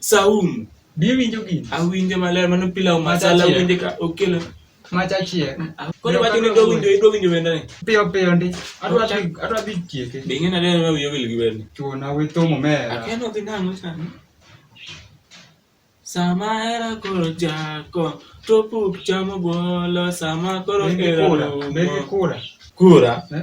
Saum. Be iwinjo gini? Awinjo maler mano pilau masala Machachiek. winje ka okelo. Macha chiek. Koro wacho ni dwa winjo idwa winjo wenda ni. Piyo piyo ndi. Adwa dhi adwa dhi chieke. Be ing'e nade ma wiyo wil gi wenda? Chuna we tomo mera. Akeno dhi nang'o chani. Sama era koro jako to puk chamo bolo sama koro Negi era kura. Negi kura. Kura. Eh?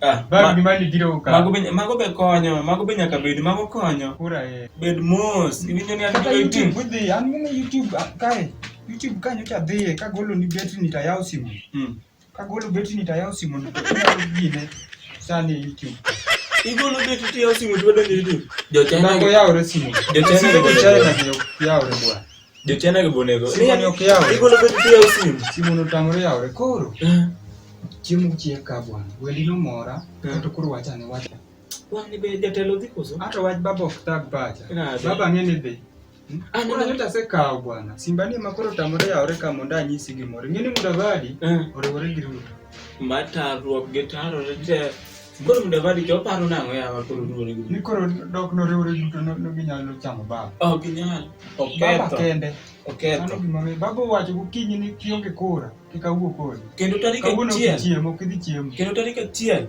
Ah, Bag ma- gima nigiro ka. mago be mago be konyo mago be nyaka bed mago konyo Kura eh. bed mos iwinjo ni an Kata gi YouTube 18 udhi, an mine YouTube ah, kae. YouTube kae nyocha dhiye kagolo ni betri nitayaw simu. Mm. Kagolo betri nitayaw simu nito inyalo gine sani YouTube. igolo betu tiyo simu tuwedo ni YouTube jo China Nago yawre simu. Jo China Simu go jo China yawre. go yawre bwana. Jochina gi bonego. Simu ni ok yaw. Igolo bet tiyo simu. Simu no tamore yawre koro. Eh. Chiemo chiek ka bwana. Wendi no mora. Eh. Kato koro wacha ni wacha. Wang'ni be jatelo dhi koso? Ato wach baba ok tag pacha. Baba ng'eni be. Hmm? Ah, Ana nyota se kawo bwana. Simba ni makoro tamore yawre ka mondo anyisi gimoro. Ng'eni Mudavadi eh. oriwore gi Ruto. Matarruok gi tarore te. Koro Mudavadi to oparo nang'o yawa koro duore gi. Ni koro dok noriwore duto no no ginyalo chamo baba. Ok nyal. Baba Oketho. kende. Mano Oketho. gima mi- Baba owacho gokinyi ni kionge kura kik awuo kodi. Kendo tarik Kawuono ok achiel. ichiem, ok idhi chiemo. Kendo tarik achiel.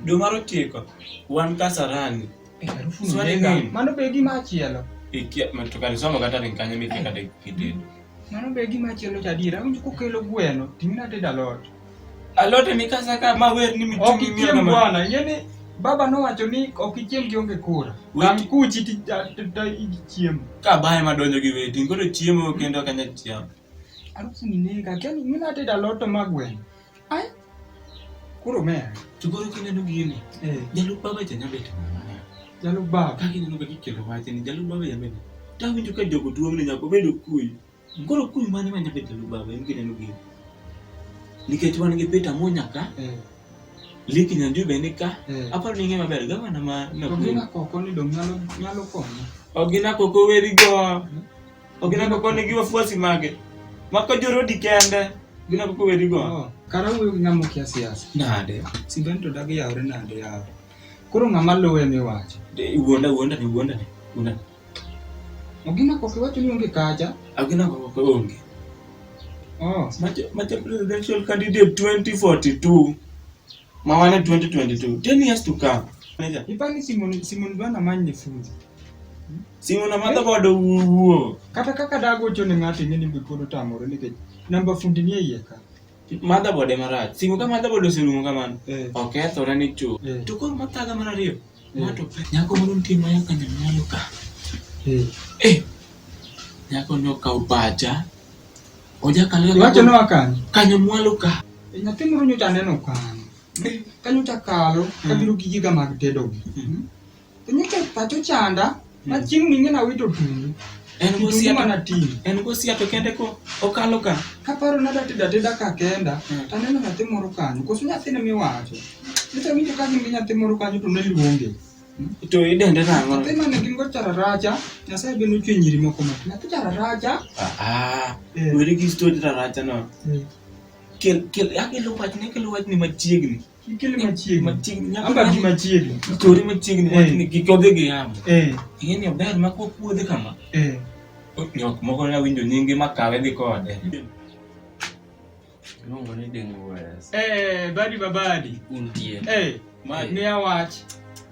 Dwe mar ochiko. Wan Kasarani. Eh, harufu ni Swali nega. nini? Mano be gima achielo. Ikia, to kare somo kata ring kanyo mikia kata kitedo. Mano be gima chielo cha adier. Awinjo kokelo gweno, ting'na tedo alot. Alot emi kasa ka ma wer ni miting'o Ok ichiem bwana, ing'e ni baba nowacho ni ok ichiem kionge kura. Wang' kuchi ti ta- ta- ta- ichiemo. Ka bae ma donjo gi weti, koro chiemo kendo kanya chiemo. Arufu ni nega, kendo ing'e ni atedo alot to ma gweno. Ai. Kuro me. Chugoro kine no gini. Eh. Jalu baba janya bet. Jalu baba. Kaki neno kaki kelo wache ni jalu baba yameni. Tahu njo ka jogo duong ni nyako bedo kuy. Kuro kuy mane manya bet jalu baba yameni kine no gini. Nikech wan gi pita mo nyaka. Eh. Liki nyanjo be nika. Eh. Aparo ni ngema ber gavana ma na. Ogina koko ni dong nyalo nyalo konyo. Ogina koko weri go. Hmm? Ok na koko ne giwa fuasi mage. Mako joro di kende. Gina koko wedi go. Oh, kara wuyo gi ng'amo kia siasa. Nade. Siben to dagi yawre nade yawo. Koro ng'ama luwe mi wacho. Wuonda wuonda ni wuonda ni. Wuonda. Ogina koko iwacho ni onge kacha. Agina koko onge. Oh. Macha presidential candidate 2042. Mawane 2022. 10 years to come. Ipani Simon Simon bana manye fundi. Simon amata bodo wuo. Kata kaka dago chone ng'ato ing'e ni bikodo tamore nikech namba fundi ni iye ka. Motherboard ema rach. Simu ka motherboard oserumo kamano. Eh. Okethore ni chuth. Eh. To koro mathaga mar ariyo. Ng'ato nyako moro nitie ma nyaka nyamalo ka. Eh. Eh. Nyako no ka obaja. Oja ka leo. Wacho no akan. Kanyo mwalo ka. Eh, nyathi moro nyocha neno kan. Eh. Kanyo ta kalo, kabiro hmm. gi giga mag tedo. Hmm. Nyocha pacho chanda. Ma chieng' ming'e na wito tuni. En gosiape na ting. En gosiape kende ko okalo ka. Kaparo na dati dati da ka kenda. Hmm. Taneno nyathi moro kanyo. Kosu nyathi ne miwacho. Nito winjo ka gimbi nyathi moro kanyo to ne iluonge. Hmm? To idende nang'o? Nyathi mane gin go chararaja. Nyasaye be nochwe nyiri moko ma. Nyathi chararaja. Ah ah. Eh. Weri gi story chararaja no. Eh. Kel kel akelo wach ne kelo wach ni machiegni. Kikili machiegni. Machiegni. nyaka Amba gi machiegni. Tori machiegni Eh. wachni gi kodhi gi yamo. Eh, Ing'e ni ober ma kwa puodhi kama. eh. Nyok moko na winjo nyingi ma kawe dhi kode. Iluongo ni Dengues. Eh, badi babadi. Untie. Eh, Ma- miya wach.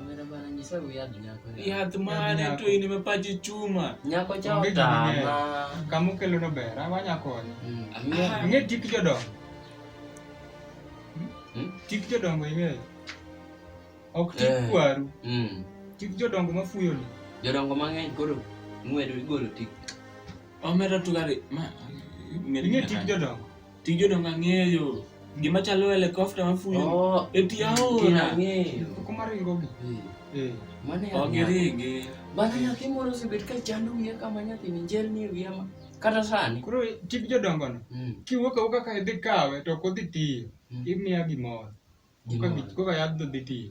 Omera bana nyisa wi yadh nyako. Yath mane to in ime pachi chuma. Nyako cha Onge gima otama. ng'eny. Kama okelo no ber, ah, wanya konye. Mm, ang'eyo. Ing'e tik jodongo. Hmm? Tik jodongo ing'eyo. Ok tik Eh. kwaru, Mm. tik jodongo mafuyo ni. Jodongo mang'eny koro ng'wedo igolo tik. Omera tugari. Ma. Ing'e tik jodongo. Tij jodongo ang'eyo. Gima chalo helicopter mafuyo. Oh, Eti aora. Ang'eyo. Kuma ringo gi. Eh. Mano ya. Ok ringi. Bana nyathi moro osebet ka chando wiye kama nyathi ni jel ni wiye ma. Kata sani. Koro tij jodongo no. Mm. Kiwuok awuoka ka idhi kawe to ok odhi tiyo. Mm. Imiya gimoro. Gimoro. Koka yadh dhi tiyo.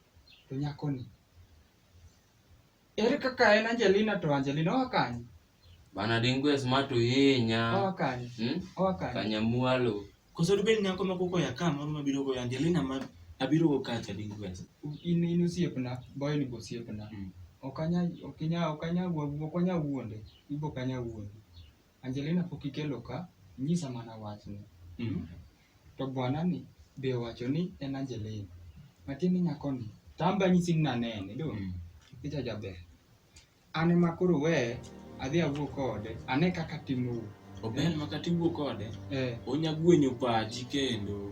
to nyakoni ere kaka en Angelina to Angelina oa kanye? Bana dingwe smart uhinya. Oa kanye? Hmm? Oa kanye? Kanyamwalo. Koso dibed nyako ma koko ya ka moro mabiro go Angelina ma abiro go kacha dingwe. In in osiepna, boy ni osiepna. Hmm. Okanya okanya okanya wuonde, ibo kanya wuonde. Angelina pok ikelo ka, nyisa mana wachni. Mm. To bwana ni be owacho ni en Angelina. Matiende nyako ni, tamba nyisi ni nanene, do. Mm. Picha jaber. An ema koro we, adhi awuo kode, ane kaka timo. Ober maka tiwuo kode, Eh. onya gwenyo pachi kendo.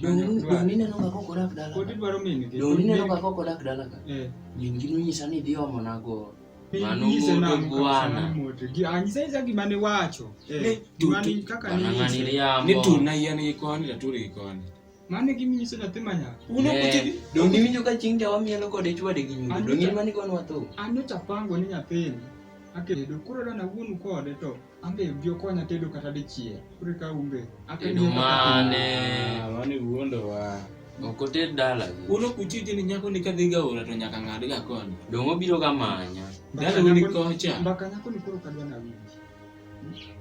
Dong ineno ka kok odak dala. Kodi dwaro min gi. Dong ineno ka kok odak dala ka. Eh. Min gi nonyisa ni idhi omo na go. Mano moto bwana. Anyisa isa gima ne wacho. Eh. Gima ni kaka ni. Ng'ani riambo. Ni tu na yane gi koni da tu ri koni. Mane gimi nyiso nyathi ma nyako. Uno kuti. Dong iwinjo ka chieng' jawa mielo kode chwade gi nyundo. Dong in mani koni watho. Ano chapango ni nyathini. Akedo. Koro dana wuonu kode to. Ambe bi okonya tedo kata dichiel. Kure ka umbe. Tedo mane? Ah, mane wuondo wa. Ok oted dala. Uno kuchiji ni nyako ni kadhi ga ora to nyaka ng'ad ga koni. Dong obiro ga manya. Dala ni kocha. Mbaka nyako ni koro kadwa na winji.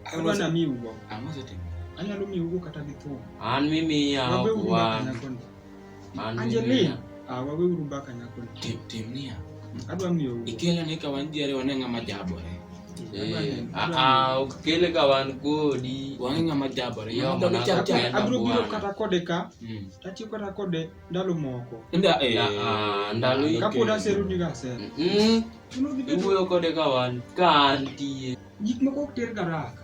Kadwa na mi ugo. Ang'o setimo? Anyalo mi ugo kata gi thum. An mimi ya kwa. Angelina. Ah, wawe uru mbaka nyako. Tim tim nia. Adwa miyo. Ikela ne ka wan jere wane ngama jabore. Eh, ah, ah, ukele ka wan kodi. Wan ngama jabore. Yo mana chap chap. Abro biro kata kode ka. Hmm. Tati kata kode ndalo moko. Nda eh ah, ndalo iki. Kapo da seru ni ga seru. Mhm. Iwuoyo kode ka wan ka antie. Gik moko ok ter garaka.